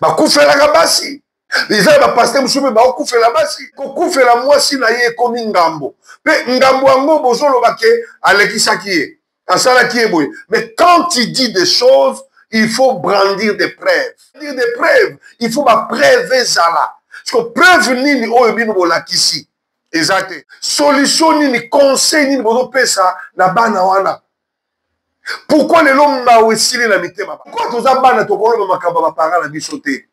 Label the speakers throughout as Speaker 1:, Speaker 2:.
Speaker 1: bakufelaka basi eza ya bapaster mosusu mpe baokufela basi kokufela mwasi na ye ekomi ngambo mpe ngambo yango bozoloba ke alekisaki ye asalaki ye boye mais quand il dit des choses il faut brandir des preuves brandir des preuves il faut bapreuve ezala siko preuve nini oyo bino bolakisi eza te solution nini conseil nini bozopesa na bana wana pourkoi lelo mawa esili na mitema pourkoi toza bana tokoloba makambo ya bapara na biso te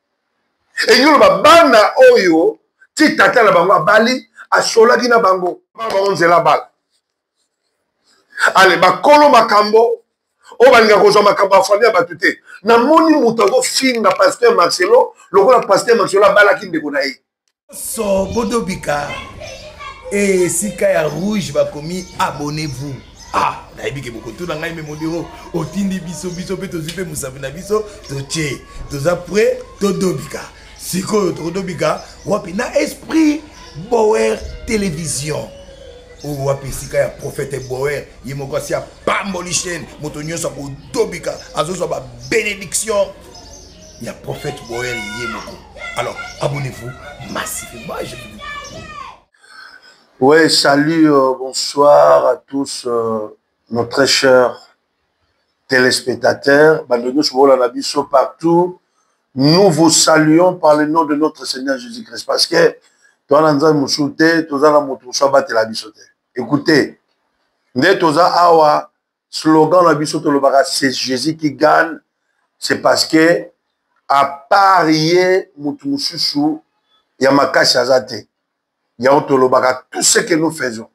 Speaker 1: elingi oloba bana oyo ti tata na bango abali asolaki na bango bango nzela bala ale bakolo makambo oyo balinga kozwa makambo ya famille ya bato te namoni moto azofinga paster marcelo lokola paster marcelo abalaki ndeko na ye so
Speaker 2: bodobika eh, esika ya rouge bakomi abonnez-vous ah nayebi ke bokotuna ngai me modero otindi biso biso mpe tozwi mpe mosapi na biso totie toza pre todobika sikoyo tokodobika wapi na esprit bower télévision oyo wapi esika ya profete boer ye moko asi apamboli chaine moto nyonso akodobika azozwa babenediction ya prophète boyer ye moko alors abonnez-vous massivement je ouais
Speaker 1: salut euh, bonsoir à tous euh, nos très chers téléspectateurs bando nyonso bolanda biso partout nous vous saluons par le nom de notre seigneur jésus christ parce que toza na nzambe mosusu te toza na moto mosusu abatela biso te écoutez nde toza awa Slogan na biso tolobaka c'est Jésus qui gagne, c'est parce que à part ye mutu mususu ya makasi aza te. Yango tolobaka tout ce que nous faisons.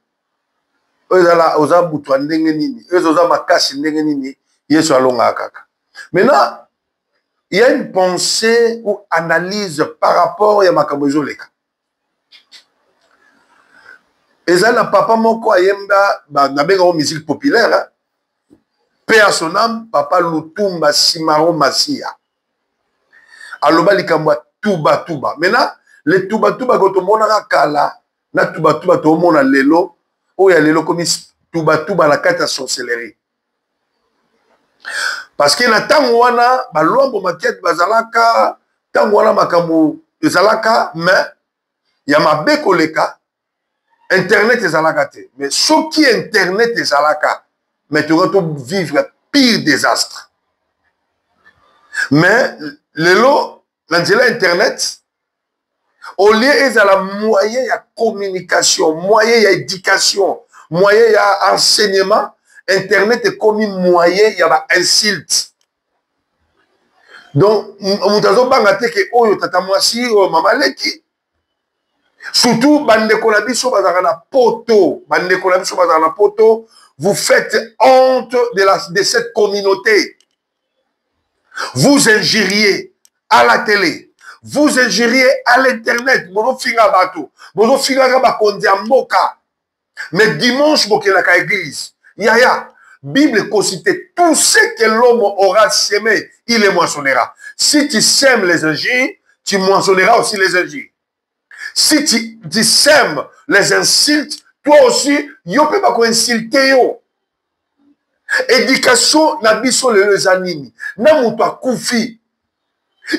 Speaker 1: Oyo ezala oza butu ya ndenge nini, oyo oza makasi ndenge nini, Yesu alongaka kaka. Maintenant, il y a une pensée ou analyse par rapport ya makambo ezoleka. ezali na papa moko ayemba nabengango musique populaire pe ya son ame papa lutumba simaro masiya aloba likambo ya tubatuba maintenant le tubatuba ko tomonaka kala na tubatuba toomona lelo oyo ya lelo komi tubatuba na kati ya sorcellerie parce que na ntango wana balwambo makete bazalaka ntango wana makambo ezalaka mais ya mabe koleka internet ezalaka te mais soki internet ezalaka mais tokoki tovivre pire désastre mais lelo na nzela ya internet au lieu ezala moyen ya communication moyen ya éducation moyen ya enseignement internet ekomi moyen ya ba insulte donc moto azobanga te ke oyo tata mwasi oyo mama leki surtout bandeko na biso bazalaka na poto bandeko na biso bazalaka na poto vous faites honte de, la, de cette communauté vous injuriez à la télé vous injuriez à l'internet bozofinga bato bozofingaka bakonzi ya mboka mais dimanche bokelaka église yaya bible ekosi te tout ce que l'homme aura semé il les moissonnera si tu sèmes les injures tu moissonneras aussi les injures si tu, tu sèmes les insultes toi aussi yo mpe bakoinsulte yo éducation na biso lelo eza nini na moto akufi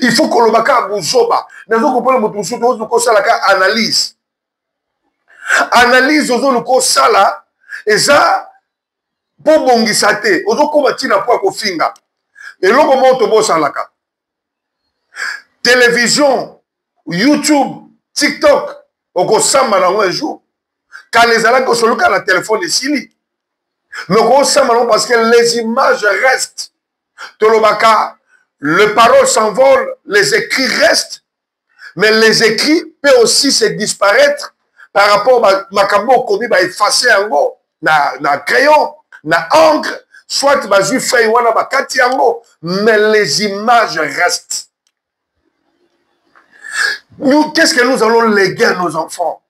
Speaker 1: il faut koloba kaka buzoba nazo kopona moto mosusu ozo kosala ka analyse analyse ozo luka osala eza mpo obongisa te ozokoma ntina mpo ya kofinga eloko moko tobosalaka television youtube tiktok okosamba nango un jour kala ezalaki kosoluka na telefone esili me okosamba nango parce que les images restent tolobaka le parole s'envole les écrits restent mais les écrits peut aussi se disparaître par rapport makambo okomi baefface yango na, na crayon na encre soit bazwi feuille wana bakati yango mais les images restent nous qu'est ce que nous allons léguer à nos enfants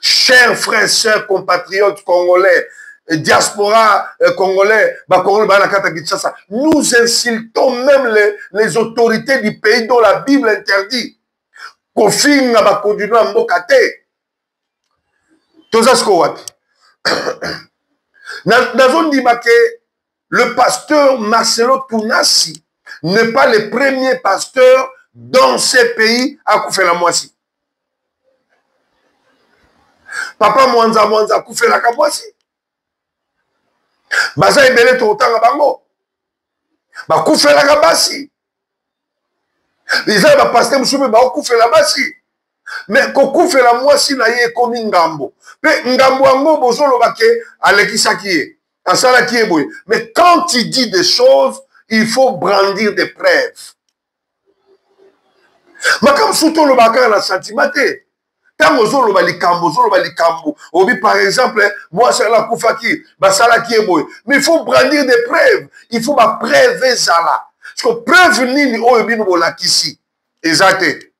Speaker 1: chers frères sœurs compatriotes congolais euh, diaspora euh, congolais bakongolais baa na kati ya kinshasa nous insultons même les, les autorités du pays dont la bible interdit kofinga bakondino ya mboka te toza siko wapi nazondima ke le pasteur Marcelo Tunasi n'est pas le premier pasteur dans ce pays à Koufela Mwasi. Papa Mwanza Mwanza Koufela Kamwasi. Baza ebele tokotanga bango. Bakufelaka basi. eza ya bapaster mosusu mpe baokufela basi me kokufela mwasi na ye ekomi ngambo mpe ngambo yango bozoloba ke alekisaki ye asalaki ye boye mais quand tu dis des choses il faut brandir des preuves makambo mosusu tolobaka kaka na sentiment te ntango ozoloba likambo ozoloba likambo obi par exemple mwasi wana akufaki basalaki ye boye mais il faut brandir des preuves il faut bapreuve ezala siko preuve nini oyo bino bolakisi eza te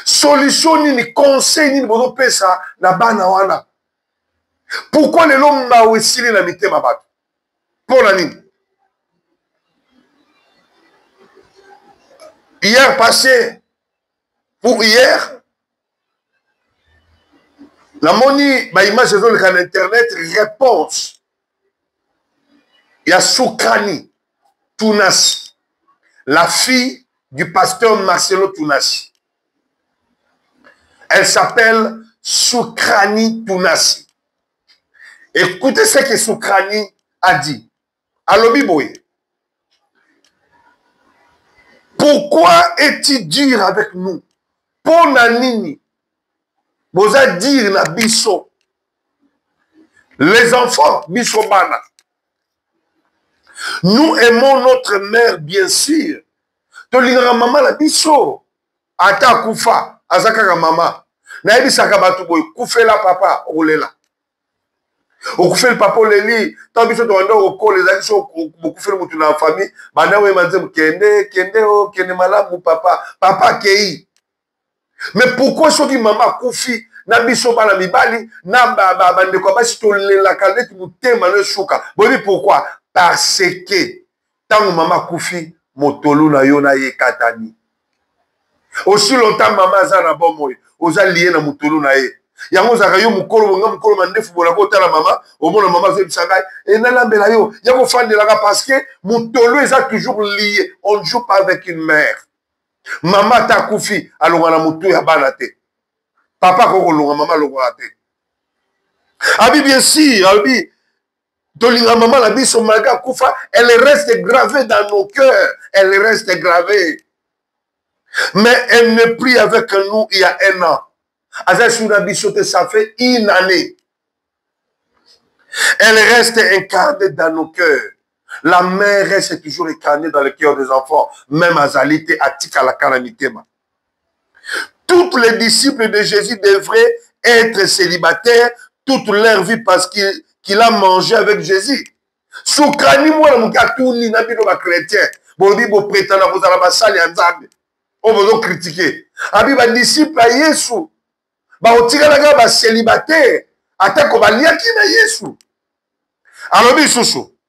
Speaker 1: solution nini conseil nini bozopesa na bana wana pourkui lelo mawa esili na mitema bato mpo na nini hier passé pour hier namoni baimage ezoleka na internet réponse ya sukani tunasi la fille du pasteur marcelo tunasi elle s'appelle sukrani tunasi écoutez ce que sukrani a dit alobi boye pourquoi est-il dur avec nous mpo na nini boza dire na biso les enfants biso bana nous aimons notre mère bien sûr tolingaka mama na biso ata akufa aza kaka mama nayebisaka bato boye kufela papa okolela okufeli papa oleli ntango biso tobanda kokola ezalaki so bokufeli motu na famille banda oyeba nzembo kende kende o oh, kende malamu papa papa akei mais pourkui soki mama akufi na biso bana mibali na bandeko ya basi tolelaka neti motema no esuka boyebi pourkui parce que ntango mama akufi motolu na yo na ye ekatani osi lota mama aza na bomoi oza liye na motolu na ye yango ozalaka yo mokolo bonga mokolo mandefu bolaka otala mama omona mama azoyebisa ngai e nalambela yo ya kofandelaka parce que motolu eza toujours liye on ne joue pas avec une mère mama ata akufi alonga na motu ya bana te papa akoki kolonga mama alongaka te abi bien sûr alobi tolinga mama na biso malgré akufa elle reste gravée dans nos cœurs elle reste gravée mais elle ne prie avec nous il y a un an aza esungi na biso te ça fait une année elle reste incarnée dans nos cœurs la mère reste toujours incarnée dans le cœur des enfants même azali te atikalaka na mitema Toutes les disciples de Jésus devraient être célibataires toute leur vie parce qu'il qu a mangé avec Jésus. Soukani mwana moke atuni na bino bachrétien bolobi bopretana kozala basali ya nzambe oyo bozokritike abi badisiple ya yesu baotikalaka baselibataire atako baliaki na yesu alobi lisusu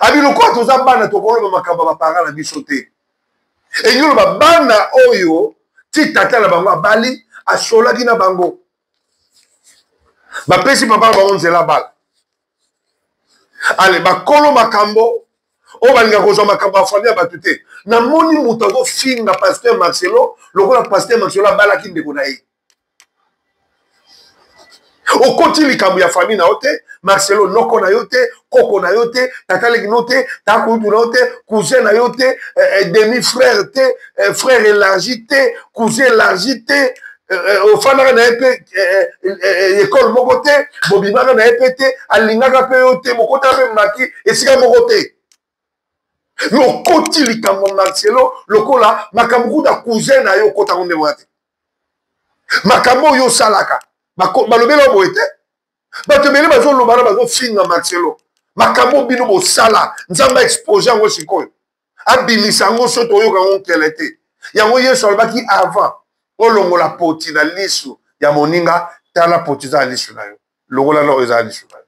Speaker 1: abi lokola toza bana tokoloba makambo ya baparent na biso te elingi oloba bana oyo ti tata na bango abali asolaki na bango bapesi papa na bango nzela bala ale bakolo makambo oyo balinga kozwa makambo ya famille ya bato te namoni moto azofinga paster marcelo lokola paster marcelo abalaki ndeko na ye okoti likambo ya famille na yo te marcelo noko na yo te koko na yo te tata leki no te tata kulutu na yo te cousin na yo te eh, eh, demi frère te eh, frère élargi te cousin élargi te ofandaka na ye mpe ekole moko te bobimaka na ye mpe te alingaka mpe yo te bokotaka mpe maki esika moko te okoti likambo marcelo lokola makambo kuta cousin na yo okotango nde wana te makambo oyo osalaka balobela boye te bato ebele bazolobana bazofinga marcelo makambo bino bosala nzambe aexpose yango sikoyo abimisa yango so toyoka yango nkele te yango yesu alobaki avant olongola poti na lisu ya moninga tala poti eza na lisu na yo longola nao eza na lisu na yo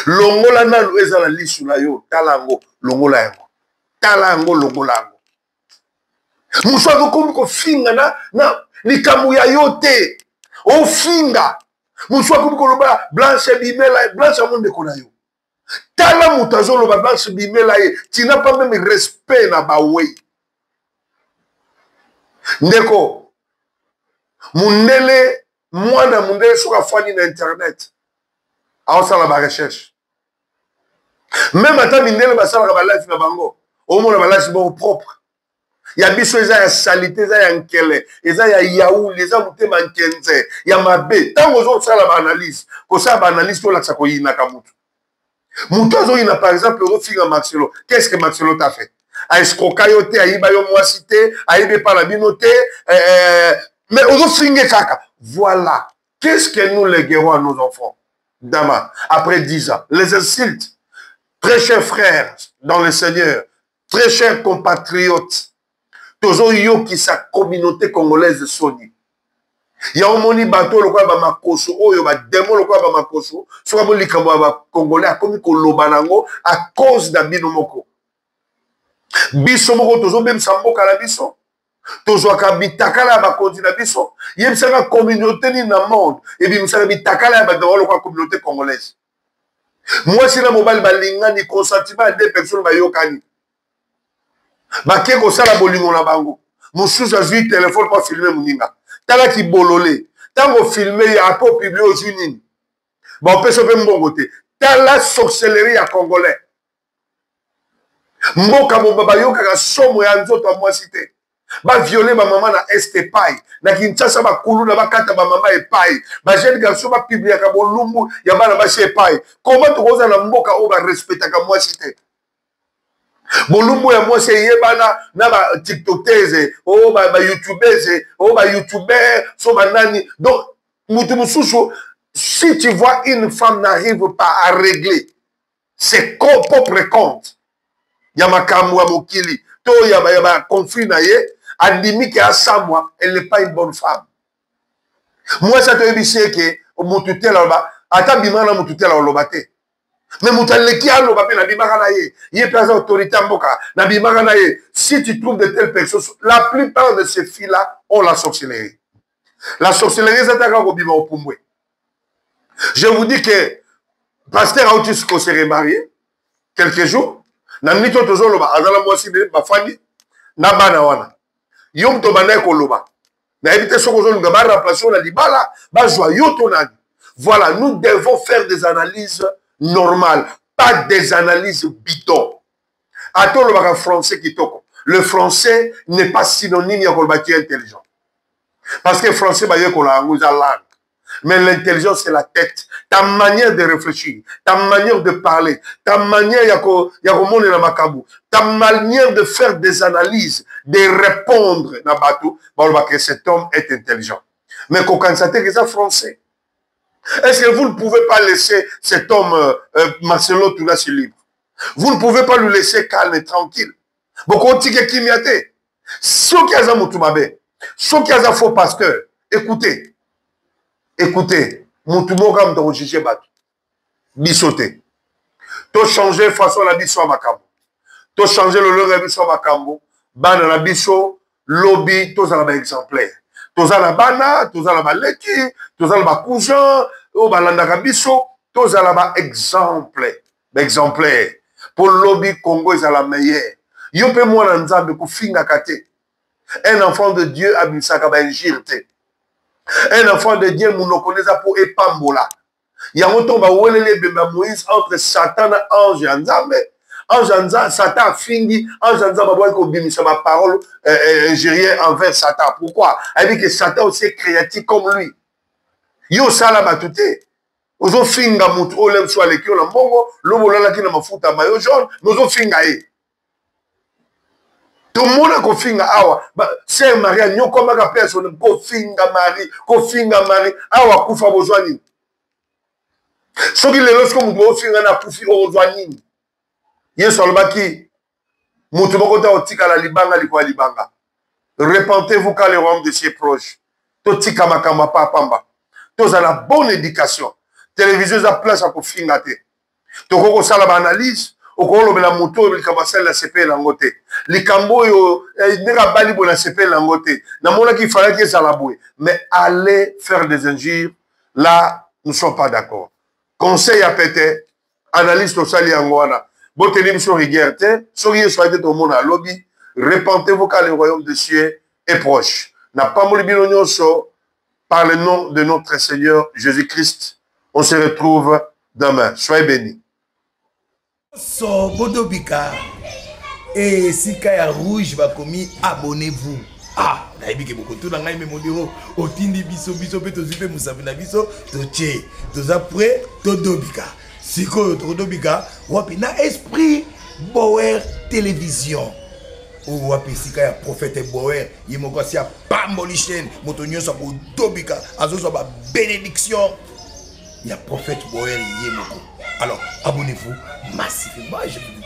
Speaker 1: longola nanu eza na lisu na yo tala yango longola yango tala yango longola yango mosu azokomi kofinga na, na likambo ya yo te ofinga mosu akomi koloba blanche bimela blanche yango ndeko na yo tala moto azoloba blanche bimela ye tina pa meme respect na bawei ndeko mundele mwana mondele soki afandi na internet aosala barecherche meme ata mindele basalaka balife na bango omona balife bango propre ya biso eza ya salite eza ya nkele eza ya yauli eza motema nkenze ya mabe ntango ozosala baanalyse kosala baanalyse tolakisa koyinaka motu moto azoyina par exemple ozofinga maxelo qu'est ce que maxelo ta fait aescroka yo te ayiba yo mwasi te ayebi epa na bino te eh, eh, mais ozofinge kaka voilà qu'est ce que nous leguerons à nos enfants dama après 10 ans les insultes très chers frères dans le seigneur très cher compatriote tozoyokisa communauté congolaise soni ya omoni bato oyo lokola bamakoso oyo bademo lokola bamakoso soki amoni likambo ya bacongolais akomi koloba na yango a cause na bino moko biso moko tozobebisa mboka na biso tozwaka bitakala ya bakonzi na biso yebisaka communauté nini na monde ebimisaka bitakala ya bato yango lokola communauté congolaise mwasi na mobali balingani consentima ya deux personnes bayokani bake kosala bolingo na bango mosusu azwi telefone mpo afilme moninga tala kibolole ntango ofilme ye ako publie ozwi nini baopesa mpe mbongo te tala sorcellerie ya congolais mboka moba bayokaka somo ya nzoto ya mwasi te baviole bamama na este epai na kinshasa bakuluna bakata bamama epai bajeune garçon bapibliaka bolumbu ya bana basi epai koma tokozala na mboka oyo barespetaka mwasi te bolumbu ya mwasi eyebana na batiktokese o oh, bayoutubese o oh, bayoutuber so banani donc motu mosusu si tu vois une femme n'arrive pas à régler ses propres comptes ya makambo ya mokili to ya baconflit na ye andimi ke asamwa elle n'est pas une bonne femme mwasi atoyebisi ye ke motu te aloba ata bima na motu te aloba te me moto aleki aloba mpe nabimaka na ye ye mpe aza autorité ya mboka nabimaka na ye si tu trouves de telle personne la plupart de ces filles là ont la sorcellerie la sorcellerie eza taka kobima opumbwe je vous dis que pasteur auti ko se remarie quelques jours na minute oyo tozoloba aza na mwasi de bafandi na bana wana yo moto obandaki koloba nayebi te soki ozolinga baremplace yo na libala bazwa yo to nani voilà nous devons faire des analyses normales pas des analyses bidon ata olobaka français kitoko le français n'est pas synonyme ya koloba tu intelligent parce que français bayekola yango eza langue mais l'intelligence c'est la tête ta manière de réfléchir ta manière de parler ta manière ya komonela makambo ta manière de faire des analyses de répondre na bato balobaka cet homme est intelligent mais kokanisa te eza français Est-ce que vous ne pouvez pas laisser cet homme, euh, euh Marcelo Toulassi, libre Vous ne pouvez pas lui laisser calme et tranquille. Bokotike kimia te. Soki aza mutu mabe, soki aza faux pasteur, écoutez. Écoutez, mutu moko amuta ko juger batu. biso te tochange façon na biso ya makambo tochange lolenge ya biso ya makambo bana na biso lobi tozala baexemplaire toza na bana toza na baleki toza na bacousin oyo balandaka biso tozala baexemple baexemplaire mpo lobi congo ezala meilleur yo mpe mwana nzambe kofingaka te un enfant de dieu abimisaka bainjire te un enfant de dieu monoko nde eza mpo epambola yango ntongo baweleli ebembe ya moïse entre satan na ange ya nzambe ange ya nzambe satan afingi ange ya nzambe abwaki kobimisa baparole eh, eh, ingérien envers satan pourquoi ayebi ke satan aussi est créatif comme lui ye osala bato te ozofinga motu oyo lemsu aleki yo na mbongo lobo olalaki na mafuta mayo jaune mais ozofinga ye tomona kofinga awa ser marie anyokwamaka mpe asone kofinga marie kofinga marie awa akufa bozwa nini soki lelo siko moto bofinga na akufi ozwa nini yesu alobaki moto moko te akotikala libanga likolo ya libanga repentez-vous car le royaume de cieux proche totika makambo ya papa pamba tozala bonne éducation televizio eza place ya kofinga te tokoki kosala baanalyse okolobela moto oyo likambo asali na sepele yango te likambo oyo eh, ndenge abali boye na sepele yango te namonaki ifalaki ezala boye mais aller faire des injures là nous sommes pas d'accord conseil ya pete analyse tosali yango wana boteli biso rigueur te soki yesu ayaki tomona alobi repentez-vous car le royaume de cieux est proche napamboli bino nyonso par le nom de notre Seigneur Jésus-Christ. On se retrouve demain. Soyez bénis.
Speaker 2: So bodobika et eh, sika ya rouge bakomi abonnez-vous. Ah, nayebi ke bokotuna ngai me modero otindi biso biso mpe tozwi mpe mosapi na biso totie toza prêt todobika sikoyo tokodobika wapi na esprit bower télévision oyo oh, wapi esika ya profete bower ye moko asi apamboli chaine moto nyonso akodobika azozwa babenediction ya profete bower ye moko alors abonnez-vous massivement je vous dis